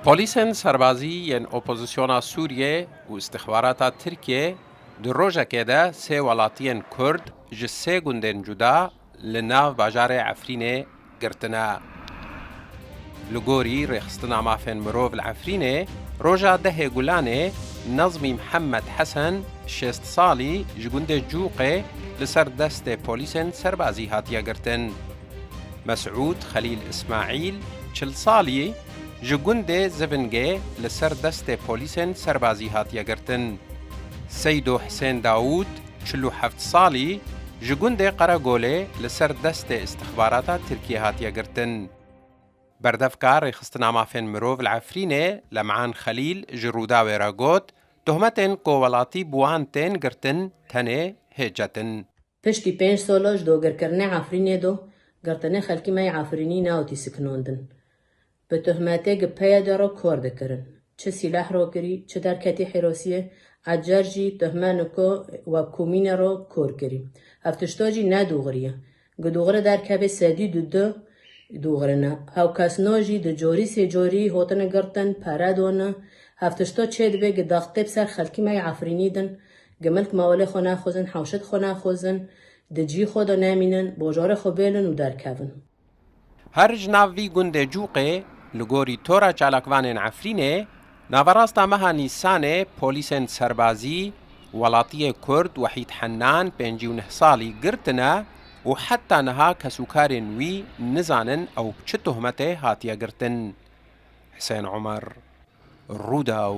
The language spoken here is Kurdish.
Polîsên serbazî yên opozisyona Sûriyê û îstixbarata Tirkiyê di rojekê de sê welatiyên Kurd ji sê gundên cuda li nav bajarê Efrînê girtine. Li gorî Rêxistina Mafên Mirov li Efrînê, roja dehê Gulanê Nazmî Mihemed Hesen şêst salî ji gundê Cûqê li ser destê polîsên serbazî hatiye girtin. Mesûd Xelîl Îsmaîl, çil salî, ji gundê Zivingê li ser destê polîsên serbazî hatiye girtin. Seydo Hisên Dawûd, çil û heft salî, ji gundê Qeregolê li ser destê îstixbarata Tirkiyê hatiye girtin. Berdevka Rêxistina Mafên Mirov li Efrînê Lem'an Xelîl ji Rûdawê re got, Tohmetên ku welatî bi wan tên girtin tenê hê çetin. Piştî pênc sala ji dagirkirinê Efrînê de girtinê xelkî me yê Efrînî newtî sikinandin. Bi tohmetê gi PYD re kar dikirin. Çi sîleh rakirî, çi derketî Hîrosiyê, ecêr jî tohme niko we komînê re kar kirî. Ev tişta jî ne dogirî ye. Gi dogirê derkevê sedî du du dogirê ne. Hewkesna jî di carî sê carî hatine girtin, pere dane. Ev tişta çê dibe gi daxtê bi ser xelkî me yê Efrînî din Gemilk mawelê xwe naxwizin, hewşet xwe naxwizin, di cî xwe de nemînin, bojarê xwe bêlin û derkevin. Her ji nav vî gundê Cûqê, li gorî Tora Çalakvanên Efrînê, naverasta meha Nîsanê polîsên serbazî welatiyê Kurd Wehîd Hennan pêncî û neh salî girtine û heta niha kesûkarên wî nizanin ew bi çi tohmetê hatiye girtin. Hisên Omer, Rûdaw.